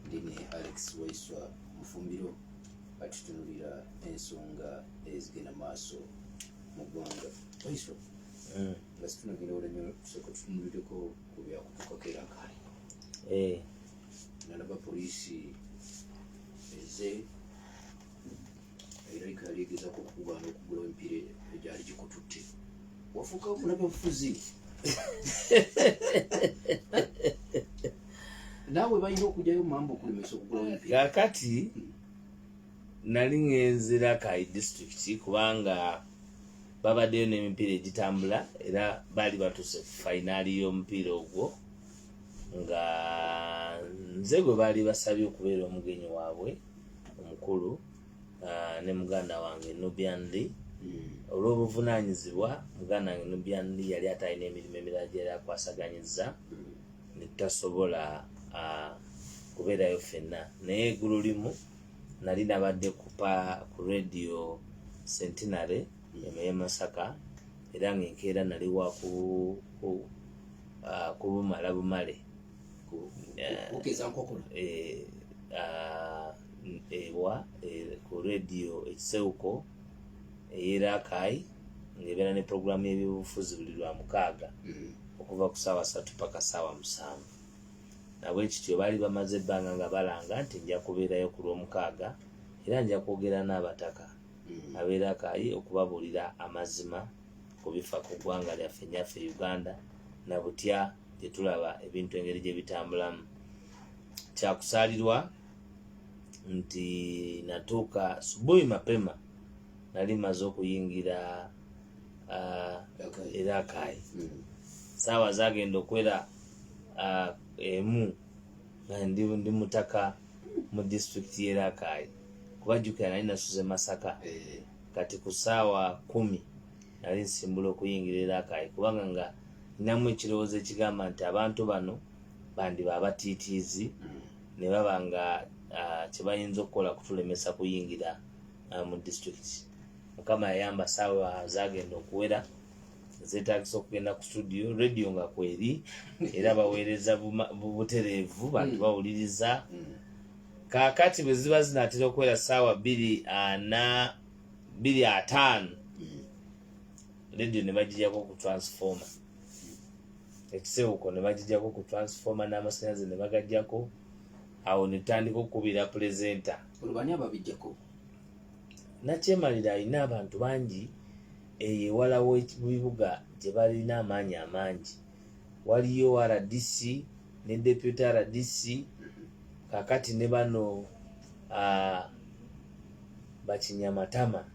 Ndine Alex Waiswa Mufumbiro atutunulira ensonga ezigenda maaso mu ggwanga. Waiswa, eh. nga situnagenda wala nnyo tusooka tutunulireko ku byakutuukako era kale. Eh. Nalaba poliisi eze Amerika yali egezaako okukugaana okugula emipiira egyali gikututte wafuuka munabafuzi naawe balina okugyayo mumamba okulemesa okugula emipiira kakati hmm. nali ngenzira kayi district kubanga babaddeyo n'emipiira egitambula era baali batuuse ku fayinaali y'omupiira ogwo nga nze gwe baali basabye okubeera omugenyi waabwe omukulu uh, ne muganda wange nubian lee hmm. olw'obuvunaanyizibwa muganda wange nubian lee yali atalina emirimu emirala gyeyali akwasaganyizza hmm. netutasobola uh, kubeerayo fenna naye egulu limu nali nabadde kupa ku radio centenary eno ye masaka era ngaenkeera nali wakubumala uh, bumale kugeza nkokola eh, ah, ewa eh, ku rediyo ekisewuko eyerakai ngaebeera ne puroguramu y'ebyobufuzi buli lwa mukaaga mm. okuva ku saawa satu paka saawa musanvu nabwe kityo baali bamaze ebbanga nga balanga nti nja kubeerayo ku lwomukaaga era nja kwogera n'abataka mm. abeera kayi okubabuulira amazima ku bifa ku ggwanga lyaffe nyaffe uganda na butya gyetulaba ebintu engeri gyebitambulamu kyakusalirwa nti natuuka subuhi mapema nali maze okuyingira uh, erakayi hmm. saawa zagenda okwera uh, emu ndi mutaka mu disitulikiti yerakayi kubajukira nali nasuze masaka eh. kati ku saawa kumi nali nsimbula okuyingira erakaayi kubanga nga ninamu ekirowoozo ekigamba nti abantu bano bandiba abatiitiizi mm. ne baba nga ah, kyebayinza okukola kutulemesa kuyingira ah, mu disitulikiti mukama yayamba saawa zagenda okuwera zetagisa okugenda ku studio radio nga kweri era baweereza butereevu bantu mm. bawuliriza mm. kakati bwe ziba zinatera okuwera saawa bbiri ana ah, biri ataano radio ne bagijako ku transformer ekisewuko ne bagijako ku transformer n'amasanyalaze ne bagajjako awo ne tutandika okukubira pulezenta olubani ababijjako nakyemalira alina abantu bangi eyo ewalawo ebibuga gye balina amaanyi amangi waliyo rdc ne deputy rdc kakati ne bano uh, bakinyamatama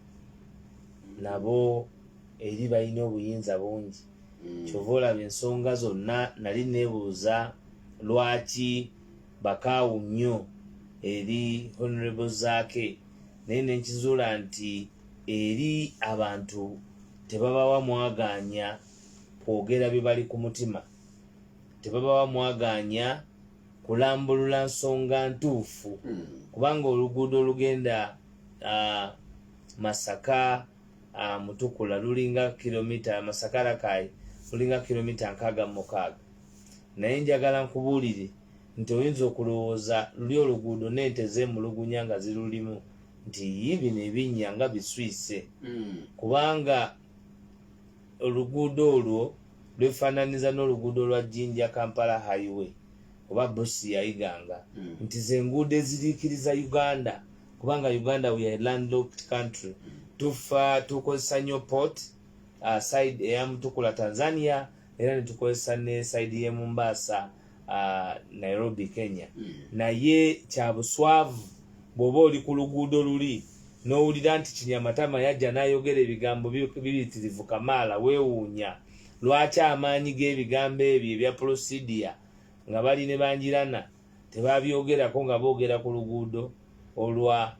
nabo eri balina obuyinza bungi mm. kyova olaba ensonga zonna nali nebuuza lwaki bakaawu nnyo eri honorable zaake naye nenkizuula nti eri abantu tebabawa mwagaanya kwogera bye bali ku mutima tebabawa mwagaanya kulambulula nsonga ntuufu hmm. kubanga oluguudo olugenda masaka mutukula lulinga kilomita masaka rakayi lulinga kilomita nkaaga mumukaaga naye njagala nkubuulire nti oyinza okulowooza luli oluguudo n'ente zeemulugunya nga zirulimu nti yi bino ebinnya nga biswise hmm. kubanga oluguudo olwo lwefaananiza n'oluguudo lwa jinja kampala highway oba busi yayiganga hmm. nti zenguudo eziriikiriza uganda kubanga uganda we are landlocked country hmm. tufa tukozesa nyo port uh, side eyamutukula tanzania era netukozesa ne saidi ye Mombasa uh, Nairobi Kenya mm. naye kyabuswavu bwoba oli ku luguudo luli nowulira nti kinyamatama yajja nayogera ebigambo bibitirivu kamaala wewuunya lwaki amaanyi g'ebigambo ebyo ebya prosidia nga bali ne banjirana Tebabyogerako nga boogera ku luguudo olwa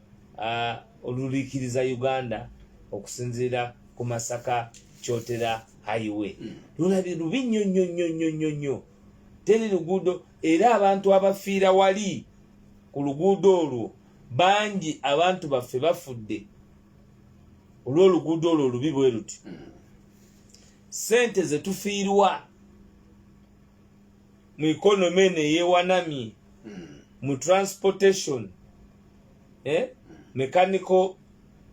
oluliikiriza Uganda okusinziira ku Masaka Kyotera Highway. Hmm. Lulabi lubi nnyo nnyo nnyo nnyo nnyo nnyo. Teri luguudo era abantu abafiira wali ku luguudo olwo bangi abantu baffe bafudde olw'oluguudo olwo olubi bwe luti. Hmm. Ssente ze tufiirwa. mu economy eno eyewanamye mu transportation eh? mechanical,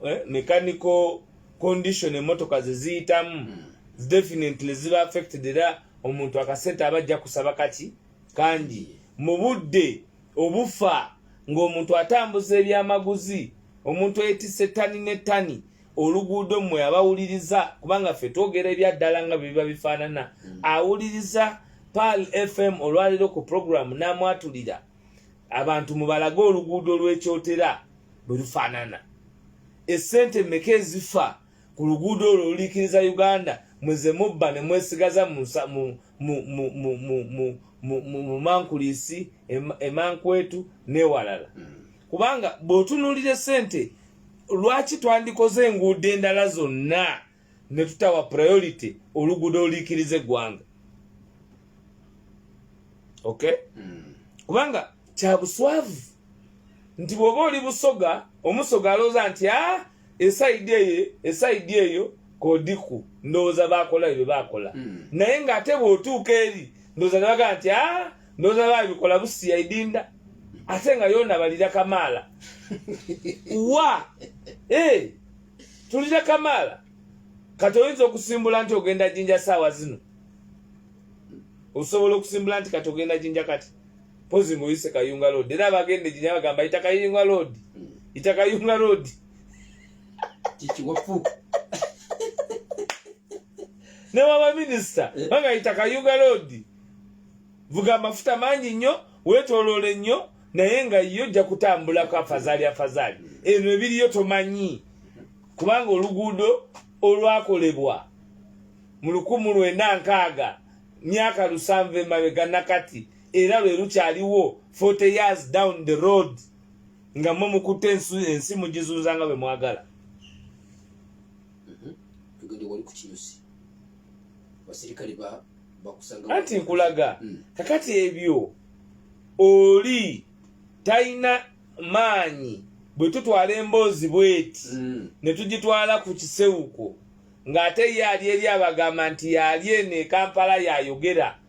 eh? mechanical condition emotoka zeziyitamu definitely ziba affected era omuntu akasente aba ajja kusaba kaki kangi mu budde obufa ng'omuntu atambuza ebyamaguzi omuntu eyetise tani ne tani oluguudo mmwe abawuliriza kubanga ffe twogera ebyaddala nga bye biba bifaanana mm. awuliriza pal fm olwaleero ku puroguramu n'amwatulira abantu mubalage oluguudo lw'ekyotera bwe lufaanana essente mmeka ezifa ku luguudo olwo oluliikiriza uganda mweze mubba ne mwesigaza mu mankuliisi emankwetu n'ewalala mm. kubanga bw'otunuulira essente lwaki twandikoze enguudo endala zonna ne tutawa priority oluguudo oluikiriza eggwanga ok hmm. kubanga kya buswavu nti bw'oba oli busoga omusoga alooza nti a ah, esaidi eyo esaidi eyo kodiku ndowooza bakola ebyo bakola hmm. naye nga ate bwotuuka eri ndowooza nebaga nti a ah, ndowooza babikola busiya idinda ate nga yona balira kamaala wa eh, tulira kamaala kati oyinza okusimbula nti ogenda jinja saawa zino osobola okusimbula nti kati ogenda jinja kati pozi ngoyise kayunga road era abagenda eginya bagamba yita kayunga road yita kayunga road kikiwafu ne waba minisita eh. banga yita kayunga road vuga amafuta mangi nnyo wetolole nnyo naye nga yo ojja kutambulako afazali afazali eno ebiriyo tomanyi kubanga oluguudo olwakolebwa mu lukumu lwenda nkaaga myaka lusanvu emabega nakati era lwe lukyaliwo 40 years down the road nga mwe mukutte ensi mugizunza nga bwe mwagala mm-hmm. anti nkulaga mm. kakati ebyo oli talina maanyi bwe tutwala emboozi bweti mm. ne tugitwala ku kisewuko ng'ate ye ali eri abagamba nti yali eno ekampala yayogera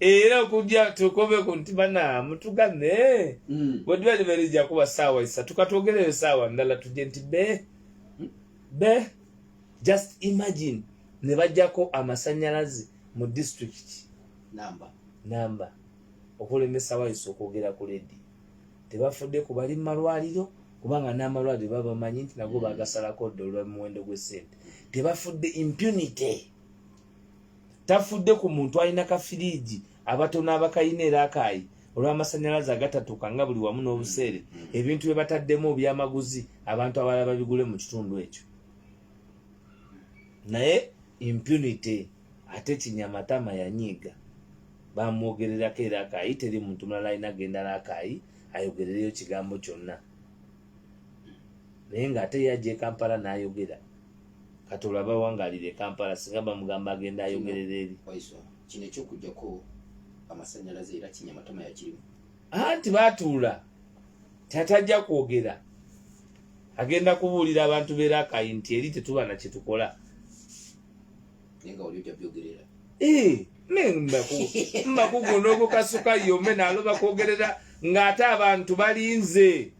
era okujja tukobe ku nti bana mutugane mm. bwetuba niberijja kuba saawa isatu katwogereyo saawa ndala tujje nti be hmm? be just imagine ne bajjako amasanyalaze mu district namba namba okulemesa wayisa okwogera ku ledi tebafudde ku bali mu malwaliro kubanga n'amalwaliro babamanyi nti nago mm. bagasalako dda olwa muwendo gw'essente tebafudde impunity tafudde ku muntu alina kafiriigi abatono abakalina era akaayi olw'amasannyalaze agatatuuka nga buli wamu n'obuseere mm, mm. ebintu bye bataddemu obyamaguzi abantu abalala babigule mu kitundu ekyo naye impunity ate kinyamatama yanyiiga bamwogererako era akaayi teri muntu mulala alina agendala akaayi ayogerereyo kigambo kyonna naye ng'ate ye ajja ekampala n'ayogera kati olaba wangalira ekampala singa bamugamba agenda ayogerera eri kino ekyokujjako amasanyalaze era kinyamatama yakirimu anti batuula tatajja kwogera agenda kubuulira abantu berakai nti eri tetuba na kyetukola naye nga wali ojja byogerera eh, mbakuguno ogukasuka yome naloba kwogerera ng'ate abantu balinze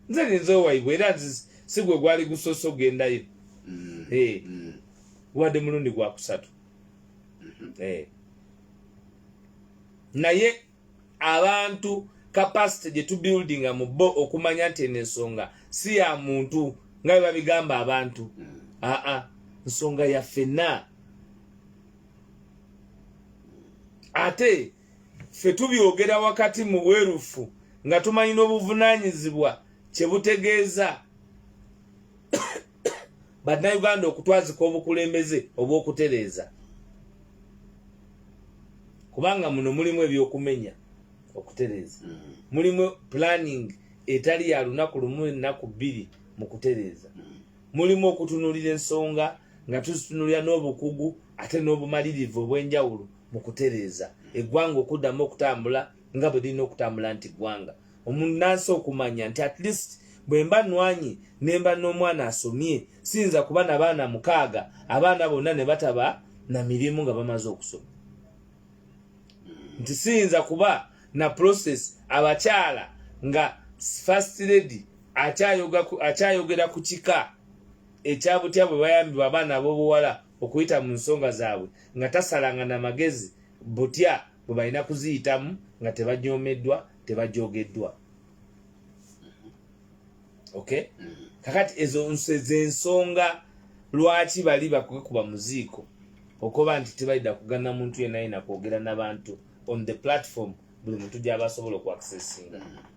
nze ninze owaibwe era nzise si gwe gwali gusoose okugendayo mm. eh. mm. wadde mulundi gwakusatu mm-hmm. eh. naye abantu kapasite gye tubuildinga mu bo okumanya nti eno ensonga si ya muntu nga bwe babigamba abantu mm. aa nsonga ya fenna ate ffe tubyogera wakati mu bwerufu nga tumanyi n'obuvunaanyizibwa kye butegeeza bannayuganda okutwazika obukulembeze obw'okutereeza kubanga muno mulimu ebyokumenya okutereeza mm-hmm. mulimu planning etali ya lunaku lumu ennaku bbiri mu kutereeza mm-hmm. mulimu okutunuulira ensonga nga tuzitunulira n'obukugu ate n'obumalirivu obw'enjawulo mm -hmm. mu kutereeza eggwanga okuddamu okutambula nga bwe lirina okutambula nti ggwanga omunnansi okumanya nti at least bwe mba nwanyi ne mba n'omwana asomye siyinza kuba na baana mukaaga abaana bonna ne bataba na mirimu nga bamaze okusoma nti siyinza kuba na process abakyala nga first lady akyayogera ku kika ekyabutya bwe bayambibwa abaana ab'obuwala okuyita mu nsonga zaabwe nga tasalanga na magezi butya bwe balina kuziyitamu nga tebajoomeddwa tebajoogeddwa okay kakati ezo zensonga lwaki bali bakwekuba muziiko okuba nti tebalida kugana muntu yena yena kwogera nabantu on the platform buli muntu gyabasobola okuaccessinga mm -hmm.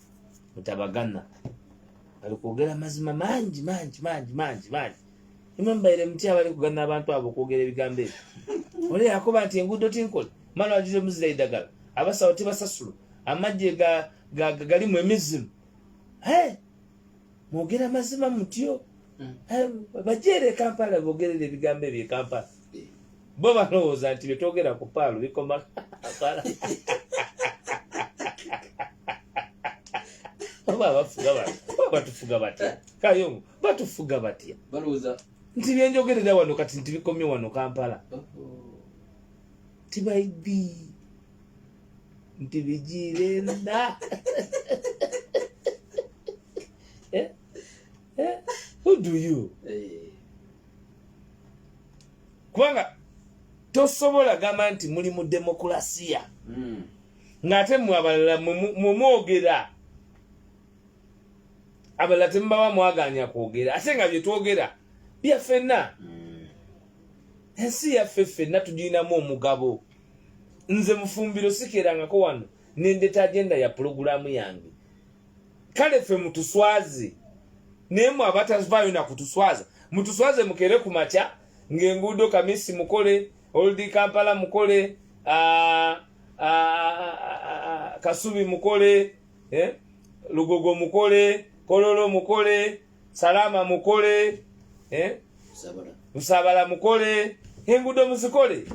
mutabagana bali kwogera mazima mangi mangi mangi mangi mangi imwe mubaire muti abali kugana abantu abo okwogera ebigambo ebyo oli yakuba nti enguudo tinkole mala wajira omuzira edagala abasawo tebasasula amagye galimu emizimu hey! mwogera mazima mutyo hmm. eh, bajeere ekampala bogerera ebigambo ebyo ekampala eh. bo balowooza nti byetwogera ku paalu bikoma kampala oba abafuga batufuga batya kayongo batufuga batya balowooza nti byenjogerera wano kati nti bikomye wano kampala oh, oh. tibayibii nti bigiire nda eh? Eh? who do you eh. kubanga tosobola gamba nti muli mu demokulasiya hmm. ng'ate mwe abalala mwemwogera abalala temubawa mwaganya kwogera ate nga byetwogera byafenna hmm. ensi yaffe ffenna tugirinamu omugabo nze mufumbiro sikerangako wano nendeta agenda ya pulogulaamu yange kale ffe mutuswaze naye mwe abatavaayo nakutuswaza mutuswaze mukere ku makya ng'enguudo kamisi mukole oldi kampala mukole ah, ah, ah, kasubi mukole eh, lugogo mukole kololo mukole salama mukole eh? nsabala mukole engudo muzikole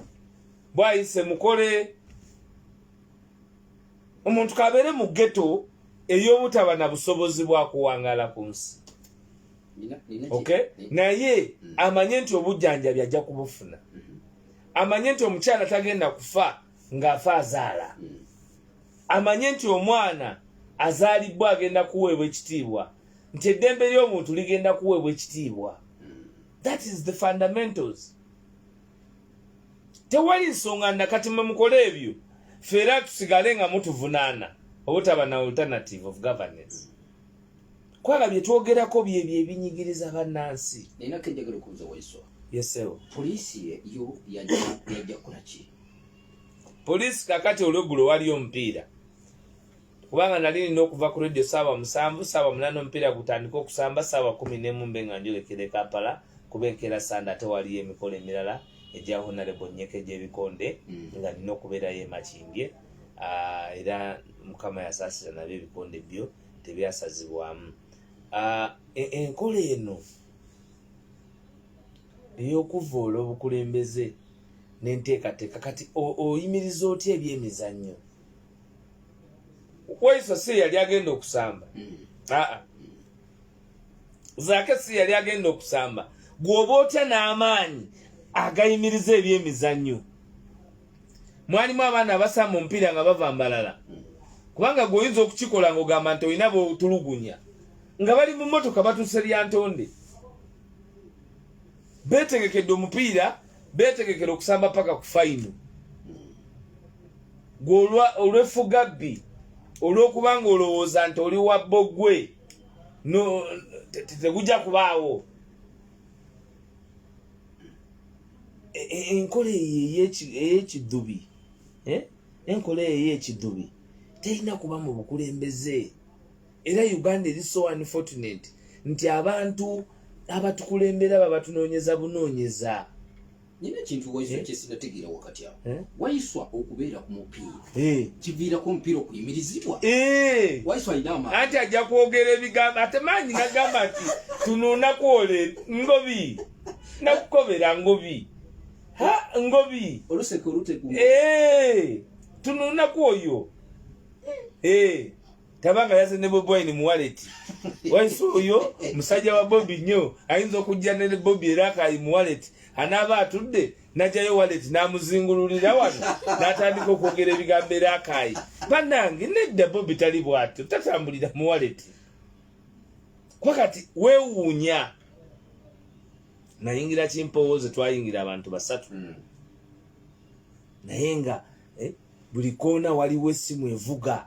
bwayise mukole omuntu kabeere mu geto ey'obutaba na busobozi bwa kuwangaala ku nsi okay? naye mm. amanye nti obujjanjabi ajja kubufuna mm-hmm. amanye nti omukyala tagenda kufa ng'afa azaala mm. amanye nti omwana azaalibwa agenda kuweebwa ekitiibwa nti eddembe ly'omuntu ligenda kuweebwa ekitiibwa that is the fundamentals tewali nsonga nakati mwe mukole ebyo fe era tusigale nga mutuvunaana obutaba na alternative of governance kwala byetwogerako byebyo ebinyigiriza bannansi yesewo poliisi yo yajja kukolaki poliisi kakati olwegulo waliyo omupiira kubanga nali nina okuva ku radio saawa musanvu saawa munana omupiira gutandika okusamba saawa kumi nemu mbe nga njolekere kampala kuba enkeera sande ate waliyo emikolo emirala egya honarebo nyeka egyebikonde mm. nga nina okubeerayo emakimbye ah, era mukama yasaasira nabyo ebikonde byo tebyasazibwamu ah, e-, enkola eno eyokuvoola obukulembeze nenteekateeka kati oyimiriza otya ebyemizannyo kwaiso si yali agenda okusamba mm. aa zaake si yali agenda okusamba gwoba otya n'amaanyi agayimiriza ebyemizannyo mwalimu abaana abasamba omupiira nga bava mbalala mm. kubanga gweoyinza okukikola ngaogamba nti olina botulugunya nga bali mu motoka batuuse lyantonde beetegekedde omupiira beetegekera okusamba paka ku fayino gwe olwefugabbi olw'okuba nga olowooza nti oli wa bbogwe tegujja kubaawo e, e, enkola eyo ey'ekiddubi eh? enkola eyo ey'ekiddubi terina kuba mu bukulembeze era uganda eri so unfortunate nti abantu abatukulembera babatunonyeza bunonyeza nyina ekintu waiswa eh? kyesinategeera wakati awo eh? waiswa okubeera ku mupiira eh. kiviirako omupiira okuyimirizibwa waiswa alina amaanyi anti ajja kwogera ebigambo ate maanyi nagamba nti tunonakwole ngobi nakukobera ngobi ha ngobi oluseke oluteku tunonaku oyo tabanga yaze ne bobi wine muwaleti waisi oyo musajja wa bobi nnyo ayinza okujja ne bobi era akayi muwaleti anaaba atudde najayo waleti namuzingululira wano natandika okwogera ebigambo era akayi banange nedda bobi tali bwatyo tatambulira muwaleti kuba kati wewuunya nayingira kimpowooze twayingira abantu basatu hmm. naye nga eh, buli koona waliwo essimu evuga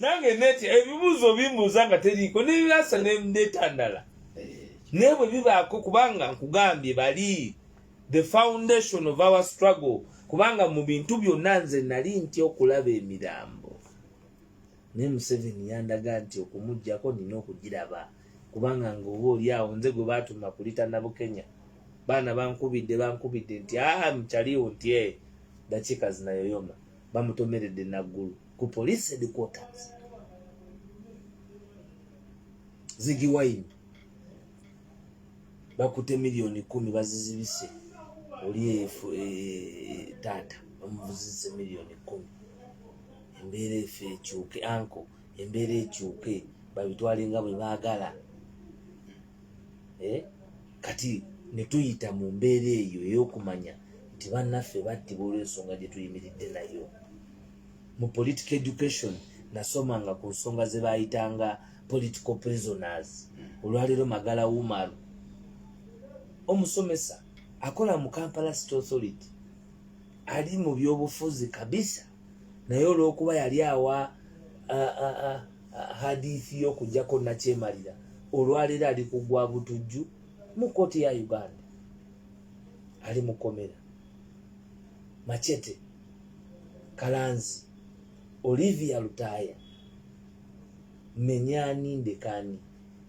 nange neti ebibuuzo bimbuuza nga teriiko nebirasa netandala naye bwe bibaako kubanga nkugambye bali the foundation of our struggle kubanga mu bintu byonna nze nali nti okulaba emirambo naye museveni yandaga nti okumugjako nina okugiraba kubanga ngaoba oli awo nze gwe batuma kulitana bukenya baana bankubidde bankubidde nti aa ah, mukyaliwo nti e eh, dakiika zinayoyoma bamutomeredde naggulu ku police headquarters zigi wine bakute miliyoni kumi bazizibise oli efu e, taata bamuvuzise miliyoni kumi embeera efe ekyuke anko embeera ekyuke babitwale nga bwe baagala eh? kati netuyita mu mbeera eyo eyokumanya nti bannaffe battibwa olw'ensonga gye tuyimiridde nayo mu political education nasoma nga ku nsonga ze baayitanga political prisoners olwaleero magala wumaru omusomesa akola mu kampala state authority ali mu byobufuzi kabisa naye olwokuba yali awa hadithi yokujako nakyemalira olwaleero ali kugwa butujju mu kkooti ya uganda ali mukomera machete kalanzi olivia lutaaya menyani ndekani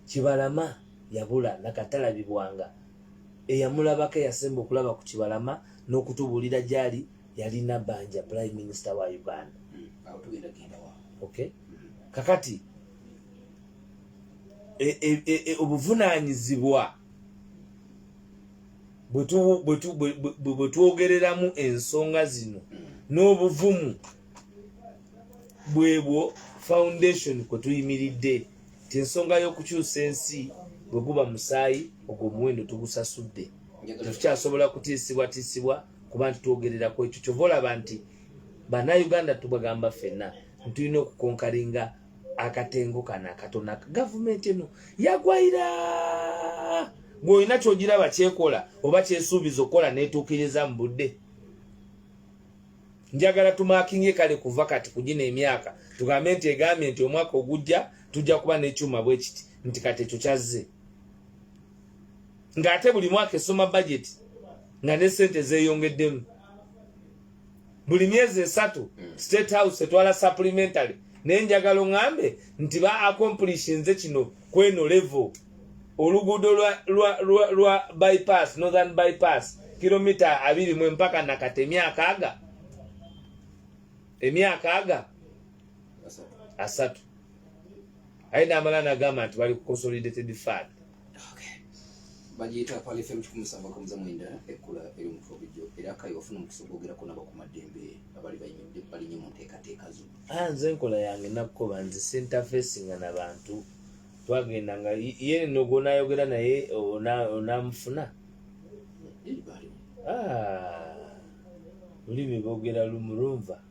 kibalama yabula nakatalabibwanga eyamulabako eyasemba okulaba ku kibalama n'okutubuulira gyali yalina banja prime minister wa uganda hmm, okay hmm. kakati e, e, e, e, obuvunanyizibwa bwetwogereramu ensonga zino hmm. n'obuvumu bwebwo foundation kwe tuyimiridde ti ensonga y'okukyusa ensi bwe guba musaayi ogwo omuwendo tugusasudde tetukyasobola kutiisibwatiisibwa kuba nti twogerera ku ekyo kyova olaba nti banauganda tubagamba ffenna ntulina okukonkalinga akatengo kano akatona gavumenti eno yagwaira gweolina kyogiraba kyekola oba kyesuubiza okukola netuukiriza mu budde njagala tumakinge kale kuva kati kugina emyaka tugambe nti egambye nti omwaka ogujja tujja kuba nekyuma bwekiti nti kati ekyo kyazze ng'ate buli mwaka esoma bajeti nga ne sente zeyongeddemu buli myezi esatu hmm. state house etwala supplementary naye njagala oŋambe nti ba accomplishinze kino kweno level oluguudo lwa, lwa, lwa, lwa bypass northern bypass kilomita abiri mu empaka nakati emyaka aga emyaka aga asatu aye namala nagamba nti bali ku consolidated fund bagiyita palife mu kikumi samba kamuza mwenda ekkula eri omutwe obujjo era kayi wafuna omukisa ogwogerako nabakumaddembe abali banyumidde balinye mu nteekateeka zo ah, nze enkola yange nakukoba nze sentafesinga na bantu twagenda nga ye no gwonayogera naye onamufuna ah, lulimi bogera lumulunva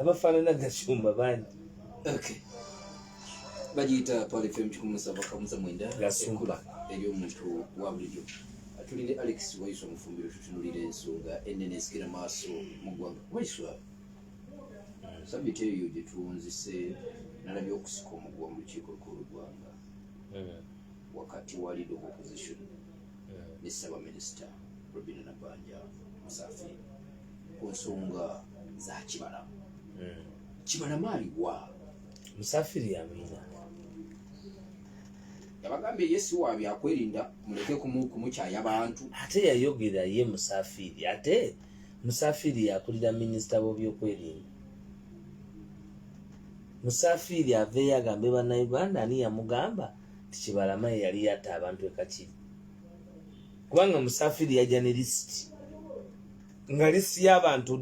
abafaanana gasumba bangi bagiyita palifem kikumi musava kamuza mwenda ekula eri omuntu wa bulijjo tuli ne alex waiswa mufumbiro tutunulira ensonga enene ezikira maaso mu ggwanga waiswa sabiti eyo gyetuwunzise nalabye okusika omugwa mu lukiiko lukulu lugwanga hmm. wakati wa lead of opposition ne ssabaminisita robina nabanja musafi ku nsonga za kibalama hmm. kibalama aliwa musafiri yamina yabagambye ye siwa byakwerinda muleke kumukyaya bantu ate yayogera ye musafiri ate musafiri yakulira minisita w'obyokwerinda musafiri aveeyo agambe banauganda ani yamugamba nti kibalama ye yali yatta abantu ekakiri kubanga musafiri yajja ne lisiti nga lisiti y'abantu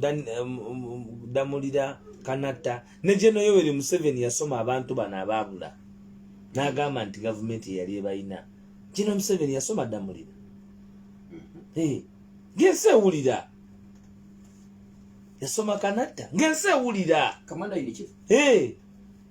damulira kanatta ne geno yoweri museveni yasoma abantu bano abaabula n'agamba nti gavumenti yeyali ebalina geno museveni yasoma damulira mm-hmm. gensi ewulira yasoma kanatta ngensi ewulira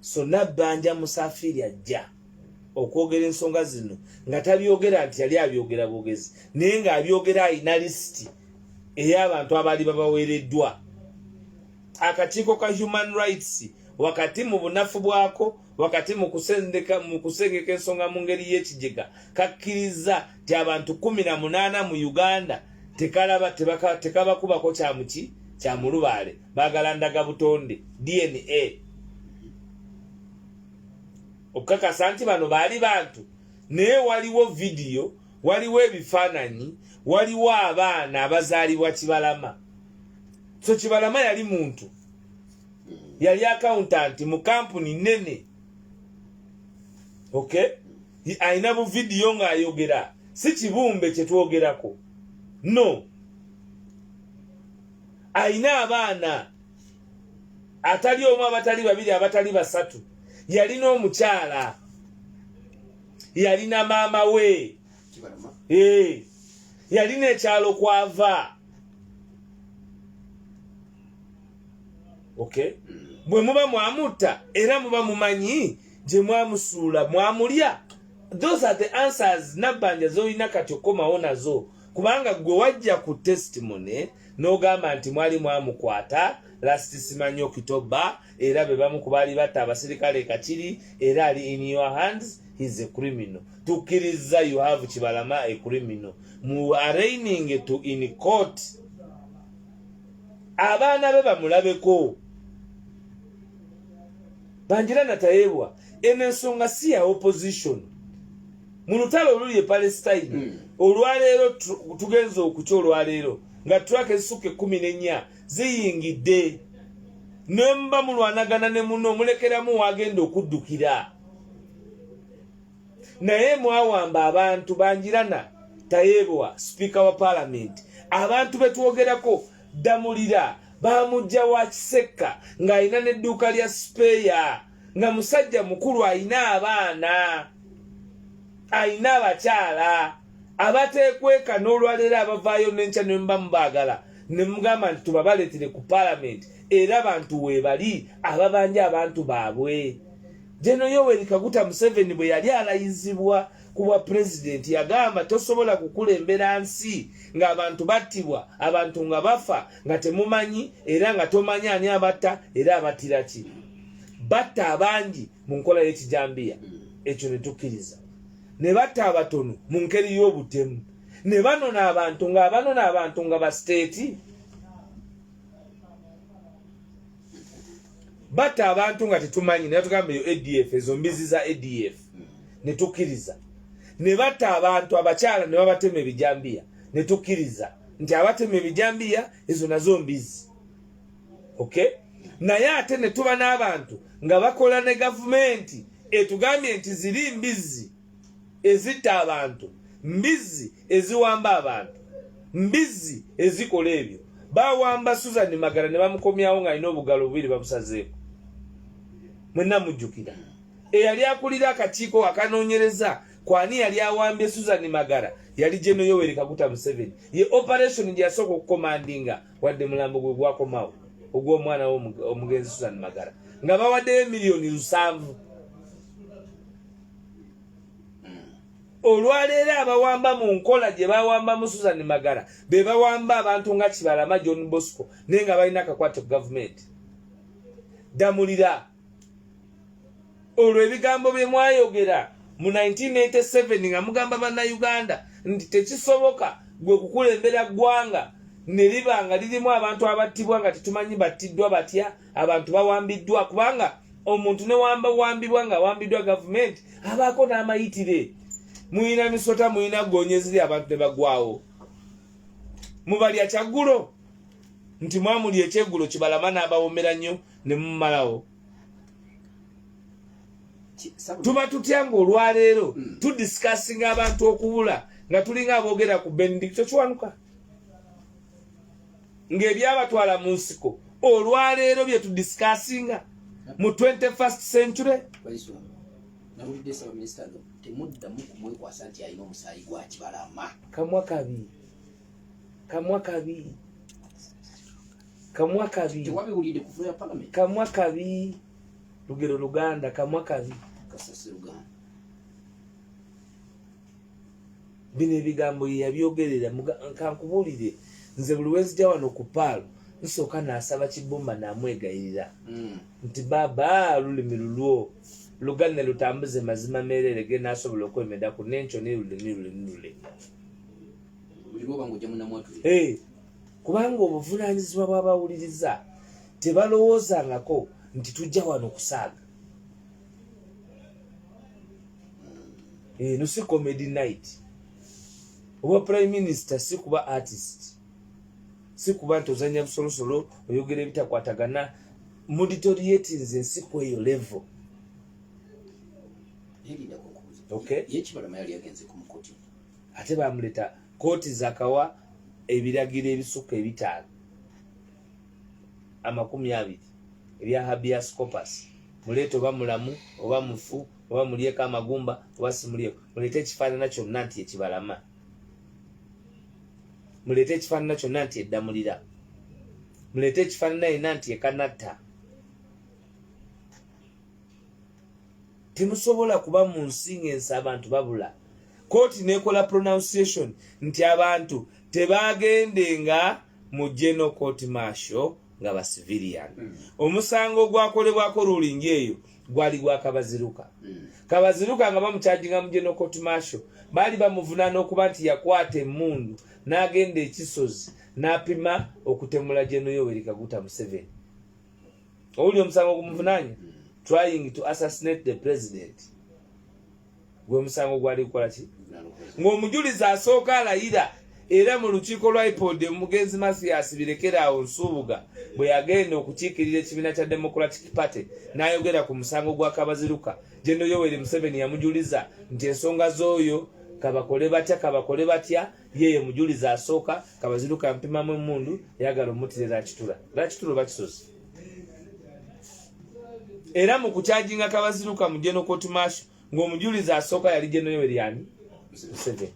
Sona Banja Musafiri ajja okwogera ensonga zino nga tabyogera nti yali abyogera bwogezi naye nga abyogera alina lisiti ey'abantu abaali babaweereddwa akakiiko ka human rights wakati mu bunafu bwako wakati mu kusengeka ensonga mu ngeri y'ekigega kakkirizza nti abantu kumi na munaana mu uganda tekalaba tekabakubako kyamuki kyamulubaale baagala ndaga butonde dna okukakasa nti bano baali bantu naye waliwo vidiyo waliwo ebifaananyi waliwo abaana abazaalibwa kibalama so kibalama yali muntu yali akawuntanti mu kampuni nene ok alina buvidiyo ng'ayogera si kibumbe kyetwogerako no alina abaana atali omu abatali babiri abatali basatu yalina omukyala yalina maama we eh, yalina ekyalo kwava okay bwe muba mwamutta era muba mumanyi gye mwamusuula mwamulya those are the answers nabbanja zolina kati okukomawo nazo kubanga gwe wajja ku testimony n'ogamba nti mwali mwamukwata last simanyi okitoba era be bamu ku baali batta abasirikale kakiri era ali in your hands he's a criminal tukkiriza you have kibalama a criminal mu arraining to in court abaana be bamulabeko banjira natayebwa eno ensonga si ya opposition mu lutalo oluli e palestine mm. olwaleero tugenza okukya olwaleero nga trak ezisukka ekumi nenya ziyingidde nemba mulwanagana ne muno omulekeramu wagenda okuddukira naye mwawamba abantu banjirana tayebwa sipiika wa palamenti abantu betwogerako ddamulira baamujja wa kisekka ng'alina n'edduuka lya sipeeya nga musajja mukulu alina abaana alina abakyala abateekweka n'olwaleero abavaayo n'enkya ne muba mubaagala ne mugamba nti tubabaleetere ku paalamenti era bantu weebali ababanja abantu baabwe jeno yoweri kaguta museveni bwe yali alayizibwa ku bwa pulezidenti yagamba tosobola kukulembera nsi ng'abantu battibwa abantu nga bafa nga temumanyi era nga tomanyi ani abatta era abattira ki batta abangi mu nkola y'ekijambiya ekyo ne tukkiriza ne batta abatono mu ngeri y'obutemu ne banona abantu ng'abanona abantu nga basiteeti batta abantu nga tetumanyi naye tugamba eyo adf ezo mbizi za adf ne tukkiriza ne batta abantu abakyala ne babatema ebijambiya ne tukkiriza nti abatema ebijambiya ezo nazo mbizi ok naye ate ne tuba n'abantu nga bakola ne gavumenti etugambye nti ziri mbizi ezitta abantu mbizi eziwamba abantu mbizzi ezikola ebyo bawamba susan magala ne bamukomyawo ng'alina obugalo bubiri babusazeeko mwenna mujjukira eyali akulira akakiiko akanoonyereza kwani yali awambye susan magala yali geno yoweri kaguta museveni ye operation gye yasooka okukomandinga wadde mulambo gwe gwakomawo ogw'omwana we omugenzi susan magala nga bawaddeyo emiliyoni lusanvu olwaleero abawamba mu nkola gye bawambamu susan magara be bawamba abantu nga kibalama john bosco naye nga balina akakwate ku gavumenti damulira olwo ebigambo bye mwayogera mu 1987 nga mugamba bannayuganda nti tekisoboka gwe kukulembera ggwanga ne liba nga lirimu abantu abattibwa nga tetumanyi battiddwa batya abantu bawambiddwa kubanga omuntu newamba wambibwa nga awambiddwa gavumenti abaako n'amayitire muyina misota muyina gonyeziri abantu ne bagwawo mubalya kyaggulo nti mwamuli ekyeggulo kibalama n'abawomera nnyo ne mumalawo tuba tutya nga olwaleero hmm. tudisikasinga abantu okubula nga tulinga aboogera ku benedicto kiwanuka ng'ebyabatwala mu nsiko olwaleero bye tudisikasinga mu 21st century kamwa kabi kamwa kabi kamwa kabi kamwa kabi lugero luganda kamwa kabi bino ebigambo yeyabyogerera kankubuulire nze buli wenzija wano ku paalo nsooka nasaba kibumba namwegayirira hmm. nti baaba lulimi lulwo lugane lutambuze mazima meerere ge nasobola okwemedaku nenkyo ne lulimi lulimi lulimi kubanga obuvunanyizibwa bwabawuliriza tebalowoozangako nti tujja wano kusaaga eno eh, si comedy night oba prime minister si kuba artist si kuba nti ozanya busolosolo oyogera ebitakwatagana muditoriatinze ensi kweyo level ate bamuleta kooti zakawa ebiragiro ebisuka ebitaano amakumi abiri ebya habias copus muleeta oba mulamu oba mufu oba mulyeko amagumba oba simulyeko muleete ekifaanana kyonna nti ekibalama muleete ekifaanana kyonna nti eddamulira muleete ekifaanana yenna nti ekanatta temusobola kuba mu nsi ng'ensi abantu babula kooti nekola pronunciation nti abantu tebagendenga mu geno court marshal nga ba civilian hmm. omusango ogwakolebwako ruling eyo gwali gwa kabaziruka hmm. kabaziruka nga bamukyajinga mu general court marshal baali bamuvunaana okuba nti yakwata emmundu n'agenda ekisozi n'apima okutemula geno yoweri kaguta museveni owuli omusango ogumuvunaanya hmm. trying to assassinate the president gwe musango gwali kukola ki ng'omujulizi asooka alayira era mu lukiiko lwa ipod omugenzi mathias birekeraawo nsuubuga bwe yagenda okukiikirira ekibiina kya democratic party n'ayogera ku musango gwa kabaziruka geno yoweri museveni yamujuliza nti ensonga z'oyo kabakole batya kabakole batya yeye mujulizi asooka kabaziruka mpimamu emundu yagala omutirira akitula lwakitula oba kisozi era mu kukyajinga kabaziruka mu geno kooti maasho ng'omujulizi asooka yali geno yoweryani museveni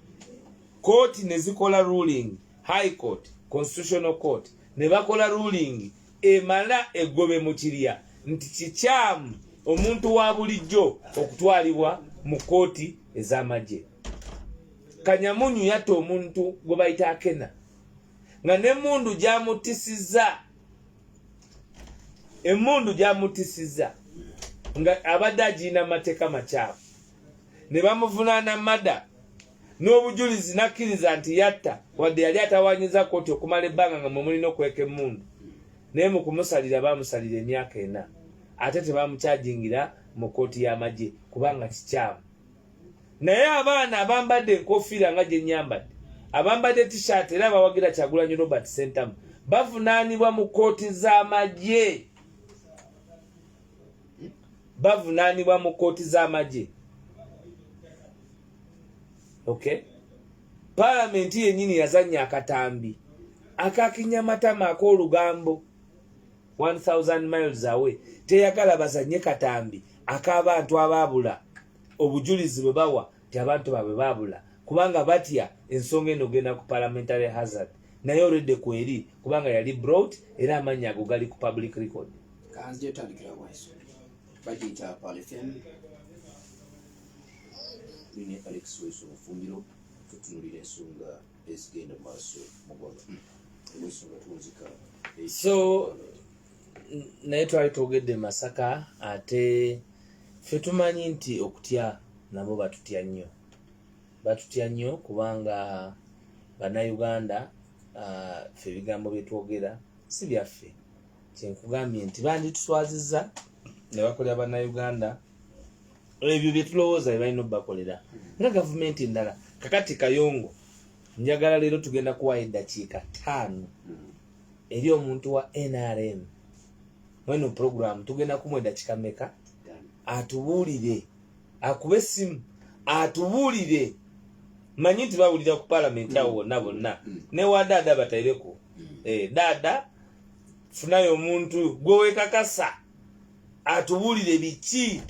kooti ne zikola ruling high court constitutional court ne bakola ruling emala egobe mu kirya nti kikyamu omuntu wa bulijjo okutwalibwa mu kooti ez'amagye kanyamunyu yatta omuntu gwe bayita akena nga n'emundu gyamutisizza emundu gyamutisiza nga abadde agirina amateeka makyafu ne bamuvunaana mada n'obujulizi nakkiriza nti yatta wadde yali atawanyiza kooti okumala ebbanga nga mwe mulina okweka emundu naye mu kumusalira baamusalira emyaka ena ate tebamukyajingira mu kooti y'amagye kubanga kikyamu naye abaana abambadde enkofiira nga gye nnyambadde abambadde tishaati era abawagira kyagulanyi robert sentamu bavunaanibwa mu kkooti z'amagye bavunaanibwa mu kkooti z'amagye okay palamenti yennyini yazannya akatambi akakinyamatama ak'olugambo 1000 miles away teyagala bazanye katambi ak'abantu abaabula obujulizi bwe bawa nti abantu baabwe baabula kubanga batya ensonga eno ogenda ku parliamentary hazard naye oredde kweri kubanga yali brought era amannya ago gali ku public record so naye twali twogedde masaka ate fe tumanyi nti okutya nabo batutya nnyo batutya nnyo kubanga bannayuganda ah, fe ebigambo byetwogera si byaffe kyenkugambye nti bandituswaziza ne bakolera bannayuganda ebyo byetulowooza bebalina obakolera nga gavumenti endala kakati kayongo njagala leero tugenda kuwayo eddakiika taano eri omuntu wa nrm mweno program tugenda kumwa edakika meka atubuulire akube essimu atubuulire manyi nti bawulira ku palamenti awo wonna bonna mm. ne wa daada bataireko mm. eh, daada funayo omuntu gwewekakasa atubuulire biki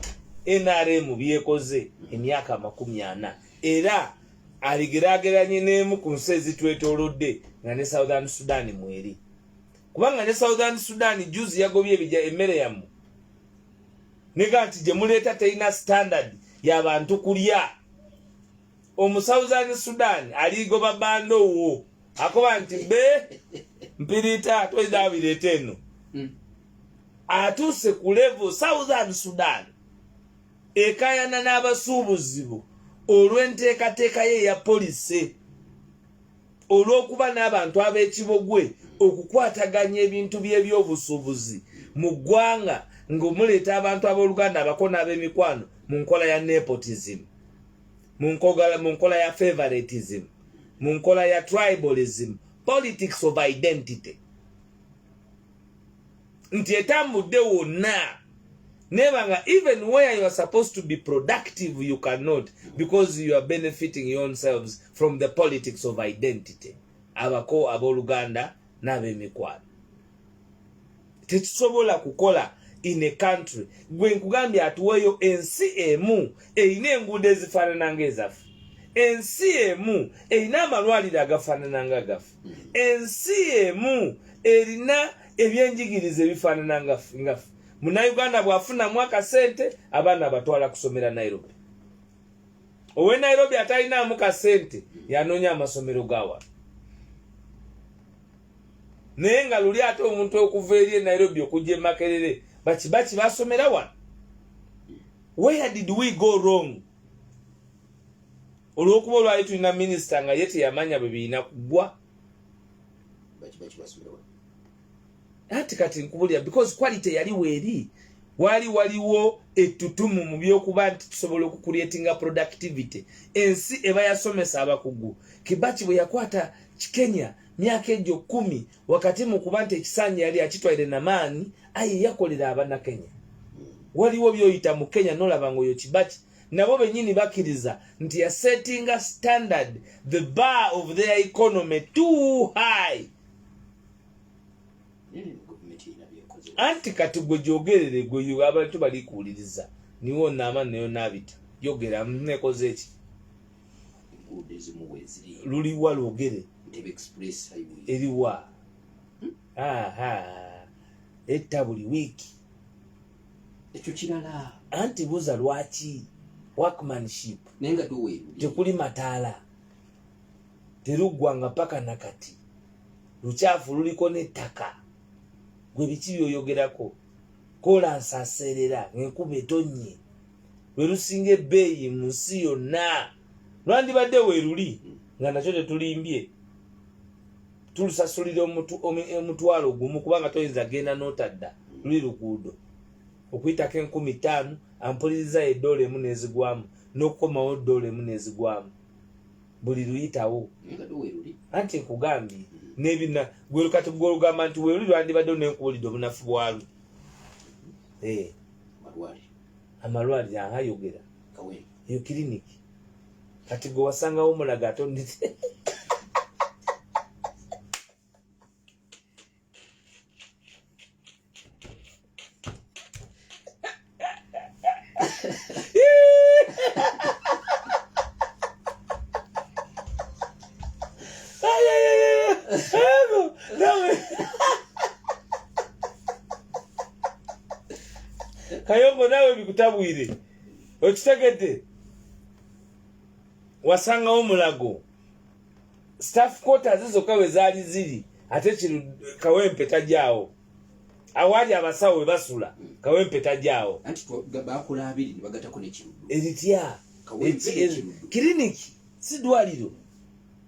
nrm byekoze mm. emyaka amakumi ana mm. era aligeraageranye n'emu ku nsi ezitwetoolodde nga ne southern sudan mweri kubanga ne southern sudan juzi yagobye ebija emmere yammwe nega nti gye muleeta terina standard ya bantu kulya omu southern sudan aligoba banda owo akoba nti be mpiriita toyina abireeta eno hmm. atuuse ku level southern sudan ekayana n'abasuubuzi bo olw'enteekateeka ye eya polise olw'okuba n'abantu ab'ekibogwe okukwataganya ebintu by'ebyobusuubuzi mu ggwanga ng'omuleeta abantu ab'oluganda abako n'ab'emikwano mu nkola ya nepotism mu nkola ya favoritism mu nkola ya tribalism politics of identity nti etambudde wonna nebanga even where you are supposed to be productive you cannot because you are benefiting yourselves from the politics of identity abako abooluganda n'abemikwano tekisobola kukola in a country gwe nkugambye atuweeyo ensi emu erina enguudo ezifaanana nga ezaffe ensi emu erina amalwaliro agafaanana nga gaffe hmm. ensi emu erina ebyenjigiriza ebifaanana ngaffe ngaffe munauganda bwafunamu akasente abaana abatwala kusomera nairobi owe nairobi atalinaamu kasente yanoonya amasomero gawa naye nga luli ate omuntu okuva eri e nairobi okujja emakerere bakibaki basomera wano where did we go wrong olwokuba olwali tulina minisita nga ye teyamanya bwe birina kugwa anti kati nkubulira because quality yali weeri wali waliwo ettutumu mu byokuba nti tusobola okukuretinga productivity ensi eba yasomesa abakugu kibaki bwe yakwata kikenya myaka egyo kumi wakati mu kuba nti ekisanja yali akitwaire namaani aye yakolera abanakenya waliwo byoyita mu kenya nolaba ngaoyo kibaki nabo benyini bakiriza nti ya setting a standard the bar of their economy too high anti kati gwe gyogerere gwe abantu bali kuwuliriza niwo naama nayo nabita yogera nekoze eki luliwa lwogere eriwa hmm? etta buli wiiki ekyo kirala anti buza lwaki workmanship naye nga tuweeru tekuli mataala teruggwanga paka nakati lukyafu luliko n'ettaka gwe biki byoyogerako kola nsaseerera ng'enkuba etonnye lwe lusinga ebbeeyi mu nsi yonna lwandibadde weeruli nga nakyo tetulimbye tulusasulira omutwalo gumu kubanga toyinza genda notadda luli luguudo okuyitako enkumi ttaano ampuliriza edoola emu nezigwamu nokukomawo doola emu nezigwamu buli luyitawo anti nkugambye nebina gwelukati gwolugamba nti weli lwandibadde nenkuwulidde obunafu bwalwe eh. amalwaliro ahayogera yo kiriniki kati gwe wasangawo omulaga ate onite kayongo nawe bikutabwire okitegedde wasangawo mulago staff quarters zokka we zaali ziri ate kino kawempe tajaawo awaali abasawo we basula kawempe tajaawo eritya kiriniki si dwaliro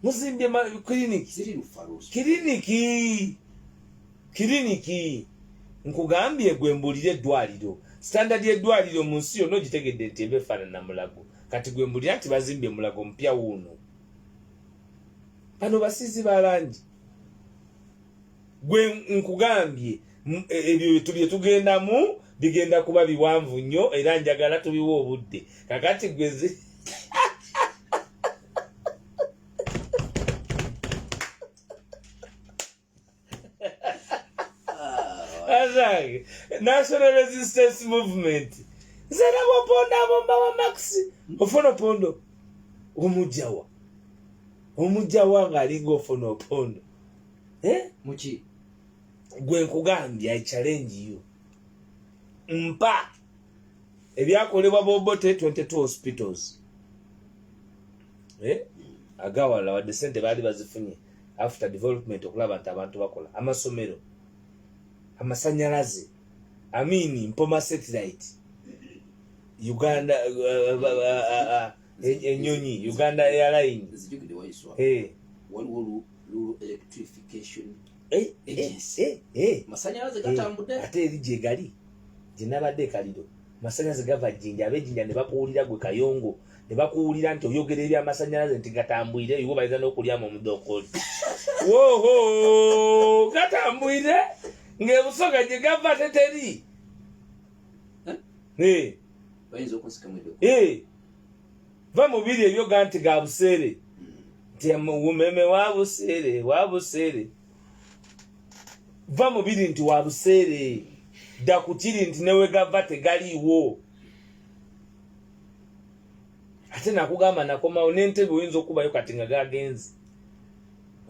muzimbye kiriniki kiriniki kiriniki nkugambye gwe mbulire eddwaliro standard yeddwaliro mu nsi yonna ogitegedde nti eba efaanana mulago kati gwe mbulira nti bazimbye mulago mpya wuuno bano basizi balangi gwe nkugambye e, ebyo bye tugendamu bigenda kuba biwanvu nnyo era njagala tubiwa obudde kakati gwe national resistance movement zera bopondo abomba wa max ofuna opondo omujawa omujawa ng'alinga ofuna opondo eh? muki gwe nkugambye i challenge you mpa ebyakolebwa bobote 22 hospitals eh? agawala wadde sente baali bazifunye after development okulaba nti abantu bakola amasomero amasanyalaze amini mpoma satellite uganda uh, uh, uh, enyonyi uganda airline waliwo Rural Electrification eh, eh, Agency. Eh, eh, eh. Masanyalaze gatambudde. Eh, ate eri gye gali gye nabadde ekaliro masanyalaze gava jjinja abejjinja ne bakuwulira gwe kayongo ne bakuwulira nti oyogera ebyamasanyalaze nti gatambwire iwe bayinza n'okulyamu omudokoli woho gatambwire ng'ebusoga gye gava teteri eh? Eh. bayinza okunsikamwedeko eh. va mu biri ebyo ga nti ga buseere nti umeme wa buseere wa buseere va mu biri nti wa buseere dda ku kiri nti newegava tegaliiwo ate nakugamba nakomawo n'entebe oyinza okubayo kati nga gagenzi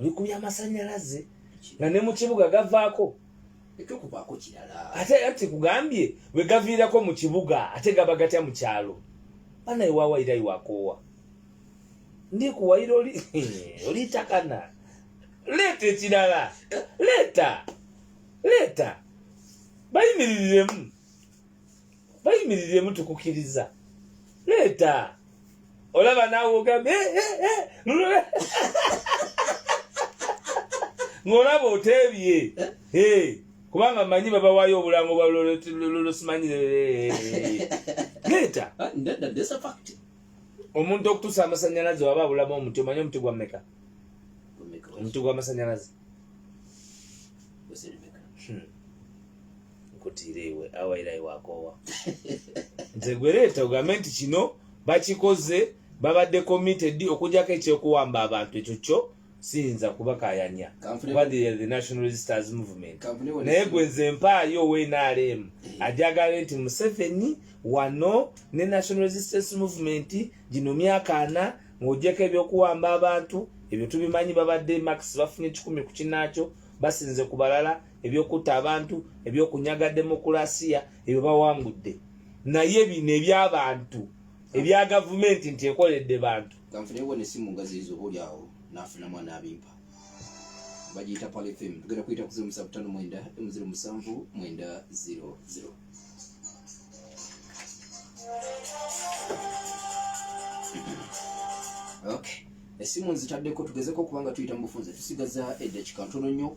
oli ku byamasanyalaze nga ne mu kibuga gavaako ekyokuvaako kirala ate era tekugambye bwe gaviirako mu kibuga ate gaba gatya mu kyalo bana ewawayira iwakoowa ndi kuwayira oli olitakana leeta ekirala leeta leeta bayimiriremu bayimiriremu tukukiriza leeta olaba naawe ogambye eh, eh, eh, ng'olaba oteebye kubanga manyi babawayo obulango bwalolosimanyireeta ah, omuntu okutusa amasanyalaze waba abulamu omuti omanyi omuti gwa meka omuti gwamasanyalaze nkutiire iwe awa era iwakoowa nze gwereeta ogambe nti kino bakikoze babadde committed okujako ekyokuwamba abantu ekyo kyo siyinza kubakayanya kuba the national registers movement naye gwe nze mpaayo ownrm eh. ajagale nti museveni wano ne national resistance movement gino myaka ana ng'ogyeko ebyokuwamba abantu ebyo tubimanyi babadde max bafunye kikumi ku kinaakyo basinze ku balala ebyokutta abantu ebyokunyaga demokulasiya ebyo bawangudde naye bino ebyabantu ebya gavumenti nti ekoledde bantu bagiyita palfm tugenda kuyita kuzimu musavu tano mwenda emuziro musanvu mwenda ziro ziro okay esimu nzitaddeko tugezeko kubanga tuyita mu bufunze tusigaza eddakika ntono nnyo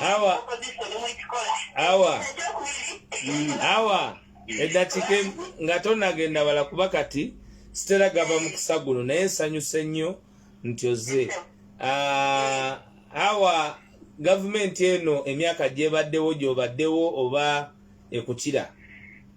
awa awa mm, awa eddakiika nga tonagenda wala kuba kati sitera gava mu kusagulo naye nsanyuse nnyo nti oze ah, awa gavumenti eno emyaka gyebaddewo gyobaddewo oba ekukira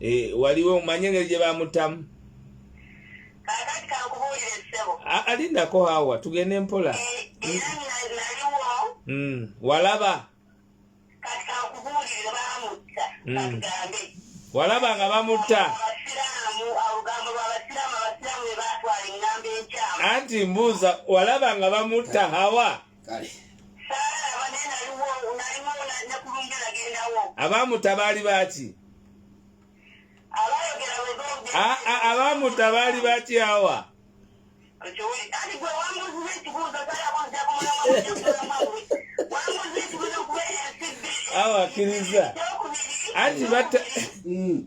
Eh, waliwo omanye engeri gye bamutamu alindako hawa tugende mpola eh, mm, walaba mm. walaba nga bamutta anti mbuuza walaba nga bamutta hawa kale abaamuta baali baaki abaamuta baali baaki awa awa akkiriza anti batta mm.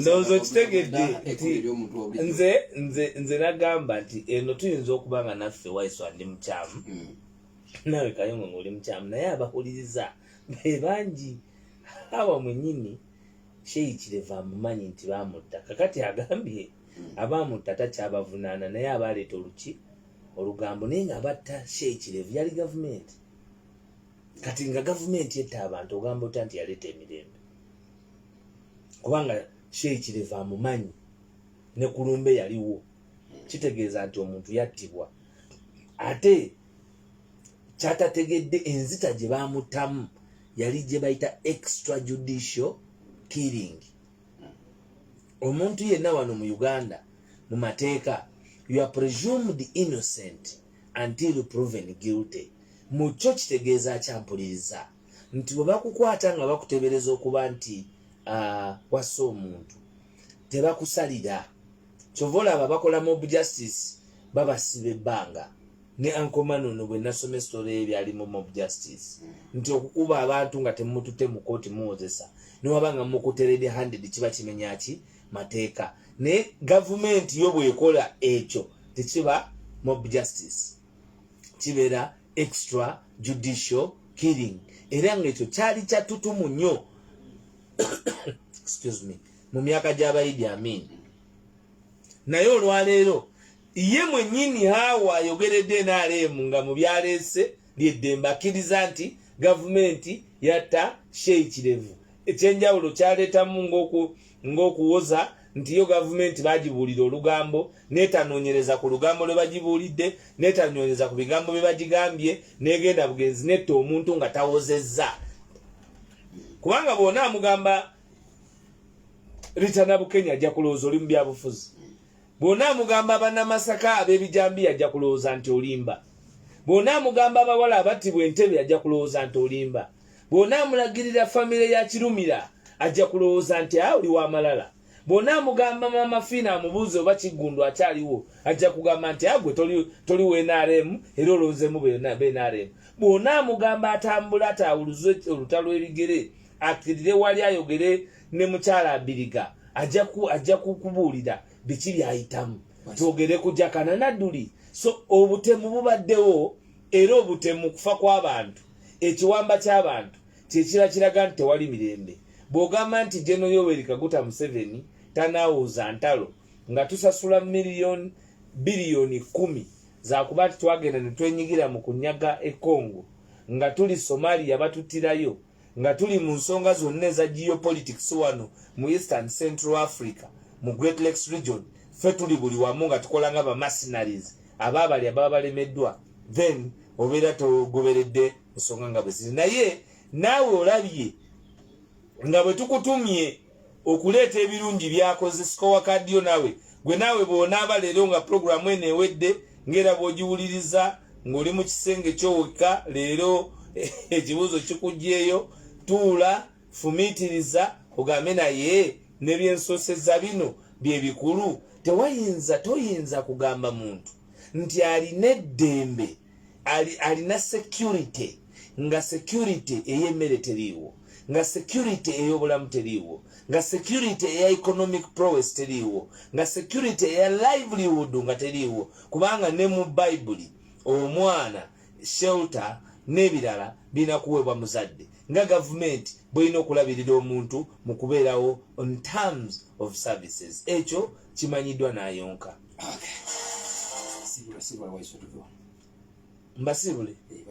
ndowooza okitegedde nze nze nze nagamba nti eno tuyinza okuba nga naffe waiso ndi mukyamu hmm. nawe kayongo ngaoli mukyamu naye abahuliriza bebangi awa mwenyini sheikireva amumanyi nti bamutta kakati agambye hmm. abamutta takyabavunaana naye abaleeta oluki olugambo naye nga abatta sheikireva yali gavumenti kati nga gavumenti etta abantu ogamba otya nti yaleeta emirembe kubanga sheikireva amumanyi ne kulumbe yaliwo kitegeeza nti omuntu yattibwa ate kyatategedde enzita gye baamuttamu yali gye bayita extra judicial killing omuntu yenna wano mu uganda mu mateeka you are presumed innocent until proven guilty mu kyo kitegeeza kyampuliriza nti bwe bakukwata nga bakutebereza okuba nti uh, wassa omuntu tebakusalira kyova olaba bakola mob justice babasiba ebbanga ne ankomanono bwe nasoma esitole ye byali mu mob justice nti okukuba abantu nga temutute mu kooti muwozesa newaba nga mukuterede handed kiba kimenyaki mateeka naye gavumenti yo bwekola ekyo tekiba mob justice kibeera extra judicial killing era ngaekyo kyali kyatutumu nnyo excuse me mu myaka gy'abayidi amin naye olwaleero ye mwenyini haawa ayogeredde nrm nga mu byaleese lyeddembe akkiriza nti gavumenti yatta sheyi kirevu ekyenjawulo kyaleetamu ng'okuwoza nti yo gavumenti bagibuulira olugambo netanoonyereza ku lugambo lwe bagibuulidde netanoonyereza ku bigambo bye bagigambye negenda bugenzi netta omuntu nga tawozezza kubanga bwona amugamba ritanabukenya ajja kulowooza oli mu byabufuzi Bw'onaamugamba Bannamasaka ab'ebijambiya ajja kulowooza nti olimba. Bw'onaamugamba abawala abattibwa Entebbe ajja kulowooza nti olimba. Bw'onaamulagirira famire ya Kirumira ajja kulowooza nti a oli wa malala. Bw'onaamugamba Maama Fiina amubuuze oba Kiggundu akyaliwo ajja kugamba nti a gwe toli wa NRM era olonzeemu bnrm. Bw'onaamugamba atambule ataawuluze olutalo ebigere, akkirire wali ayogere ne mukyala abiriga ajja ku ajja kukubuulira biki byayitamu twogere ku jakana nadduli so obutemu bubaddewo era obutemu kufa kw'abantu ekiwamba ky'abantu kyekira kiraga nti tewali mirembe bw'ogamba nti geno yoweri kaguta museveni tanaawuuza ntalo nga tusasula miliyoni biliyoni kumi zakuba nti twagenda ne twenyigira mu kunyaga ekongo nga tuli somalia batuttirayo nga tuli mu nsonga zonna eza geopolitics wano mu east and central africa mu great lakes region ffe tuli buli wamu nga tukola nga bamassinaries aba abali ababa balemeddwa then obeera togoberedde nsonga nga bwe ziri naye naawe olabye nga bwe tukutumye okuleeta ebirungi byakoze sikowa kadiyo nawe gwe naawe bwonaaba leero nga pulogulaamu eno ewedde ngaera bwogiwuliriza ng'oli mu kisenge kyowekka leero ekibuuzo kikugyeyo tuula fumiitiriza ogambe naye nebyensoseza bino bye bikulu tewayinza toyinza kugamba muntu nti alina eddembe alina security nga security ey'emmere teriiwo nga security ey'obulamu teriiwo nga security eya economic prowess teriiwo nga security eya livelihood nga teriiwo kubanga ne mu bayibuli omwana shelter n'ebirala birina kuweebwa muzadde nga gavumenti bwelina okulabirira omuntu mu kubeerawo on terms of services ekyo kimanyiddwa n'ayonka mbasibule eh,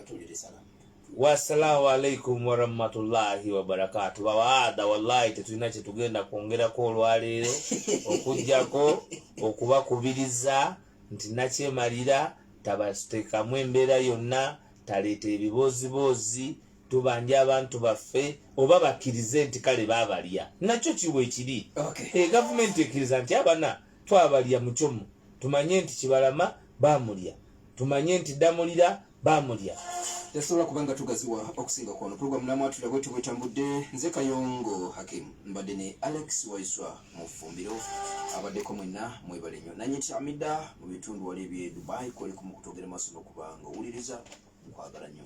wasalaamu alaikum warahmatullahi wabarakatu bawaada wallahi tetulina kyetugenda kwongerako olwaleero okujjako okubakubiriza nti nakyemalira tabatekamu embeera yonna taleeta ebibooziboozi tubanja abantu baffe oba bakkirize nti kale babalya nakyo kiwa ekiri egavumenti eh, ekkiriza nti abana twabalya mucomu tumanye nti kibalama bamulya tumanye nti damulira bamulya tasobola kubanga tugaziwa okusinga kwano program namwatula bwetyo bwetambudde nze kayongo hakim mbadde ne alex waiswa mu fumbiro abaddeko mwenna mwebale nyo nanye tyamidda mu bitundu wali ebye dubai kwoliku mu kutogera maaso nokubanga owuliriza nkwagala nyo